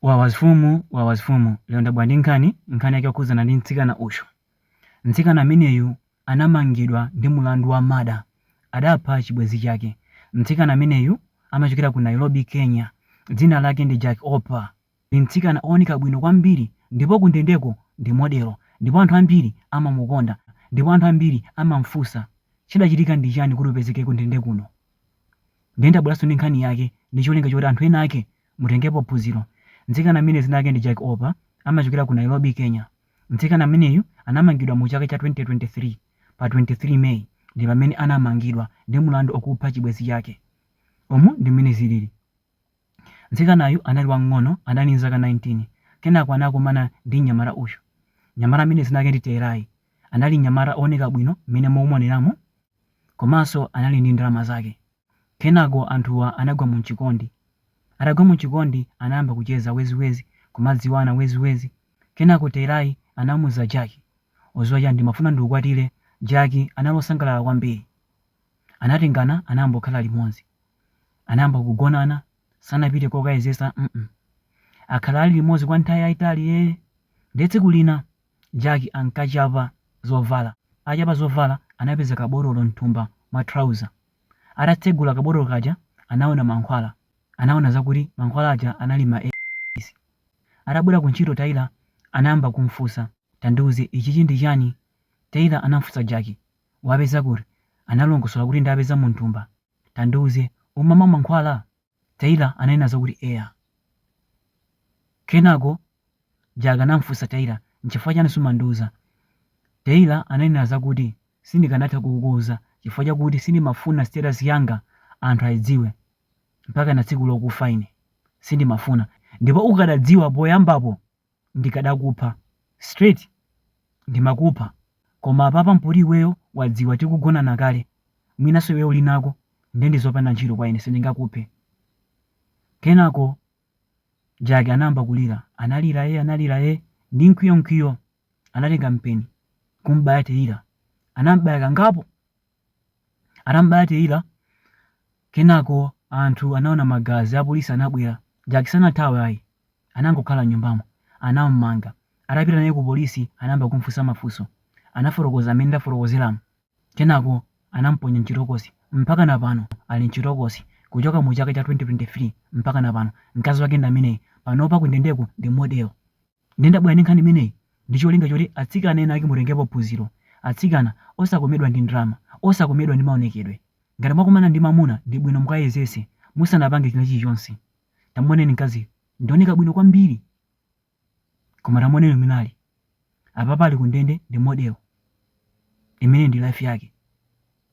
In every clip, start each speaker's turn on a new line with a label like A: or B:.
A: Wawa mfumu wawa mfumu lero ndabwera ndi nkhani nkhani yake yokhudzana ndi mtsikana uyu mtsikana ameneyu anamangidwa ndi mulandu wa murder adapha chibwenzi chake mtsikana ameneyu amachokera ku Nairobi Kenya dzina lake ndi Jackie Opa ndi mtsikana ooneka bwino kwambiri ndipo kundendeko ndi modelo ndipo anthu ambiri amamukonda ndipo anthu ambiri amamfunsa chidachitika ndi chani kuti upezeke kundende kuno ndiye ndabweranso ndi nkhani yake ndi cholinga choti anthu ena ake Mutengepo phunziro. Mtsikana ameneyu dzina lake ndi Jackie Opa amachokera ku Nairobi, Kenya. Mtsikana ameneyu anamangidwa mu chaka cha 2023. Pa 23 May ndi pamene anamangidwa ndi mlandu okupha chibwenzi chake. Umu ndi mmene zilili. Mtsikanayu anali wamng'ono, anali ndi zaka 19. Kenako anakumana ndi mnyamata uyu. Mnyamata ameneyu dzina lake ndi Tyler. Anali mnyamata ooneka bwino mmene mukumuoneramu komanso anali ndi ndalama zake. Kenako anthuwa anagwa mu chikondi. Atagwa mu chikondi anayamba kucheza wezi wezi kumadziwana wezi wezi. Kenako Tyler anamuuza Jackie, udziwa chani ndimafuna ndikukwatire, Jackie anali osangalala kwambiri. Anatengana anayamba kukhala limodzi. Anayamba kugonana sanapite kokayezesa mm akhala ali limodzi kwa nthawi yayitali ee nde tsiku lina. Jackie ankachapa zovala. Achapa zovala, anapeza kabotolo m'thumba mwa trouser. Atatsegula kabotolo kaja, anaona mankhwala. Anaona zakuti mankhwala aja anali ma AIDS. Atabwera ku ntchito Tyler anayamba kum'funsa, Tandiuze, ichichi ndi chani? Tyler anam'funsa Jackie. Wapeza kuti? Analongosola kuti ndapeza mu m'thumba. Tandiuze, umamwa mankhwala? Tyler ananena zakuti eya. Kenako Jackie anam'funsa Tyler, N'chifukwa chani sumandiuza? Taylor ananena zakuti, Sindikanatha kukuuza chifukwa chakuti sindimafuna status yanga anthu aidziwe mpakana tsiku lokufa ine. Sindimafuna. Ndipo ukadadziwa poyambapo ndikadakupha straight ndimakupha koma apapa mpoti iweyo wadziwa tikugonana kale mwinanso iweyo uli nako nde ndi zopanda ntchito kwa ine sindingakuphe kenako jackie anayamba kulira analira ee analira ee ndi mkwiyo mkwiyo anatenga mpeni kumbaya tyler anambaya kangapo atambaya tyler kenako anthu anaona magazi apolisi anabwera jackie sanathawe ayi Anangokhala m'nyumbamo. Anam'manga. Atapita naye kupolisi anayamba kum'funsa mafunso. Anafotokoza mmene ndafotokozeramu. Kenako anam'ponya m'chitokosi. Mpakana pano ali m'chitokosi. Kuchoka mu chaka cha 2023 mpakana pano, mkazi wake ndi ameneyu. Panopa kundendeko ndi modelo. Ndiye ndabwera ndi nkhani imeneyi ndi cholinga choti atsikana ena ake mutengepo phunziro. Atsikana, osakomedwa ndi ndalama, osakomedwa ndi maonekedwe. Ngati mwakumana ndi mwamuna ndi bwino mukayezetse musanapange china chilichonse. Tamuoneni mkaziyu, ndi wooneka bwino kwambiri. Koma tamuoneni mwinali. Apapa ali kundende ndi model. Imeneyi ndi life yake.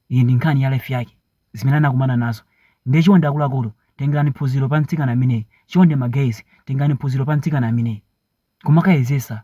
A: Iyi ndi nkhani ya life yake. Zimene anakumana nazo. Ndiye chonde akuluakulu, tengerani phunziro pa mtsikana ameneyi. Chonde ma guys, tengerani phunziro pa mtsikana ameneyi. Kumakayezesa.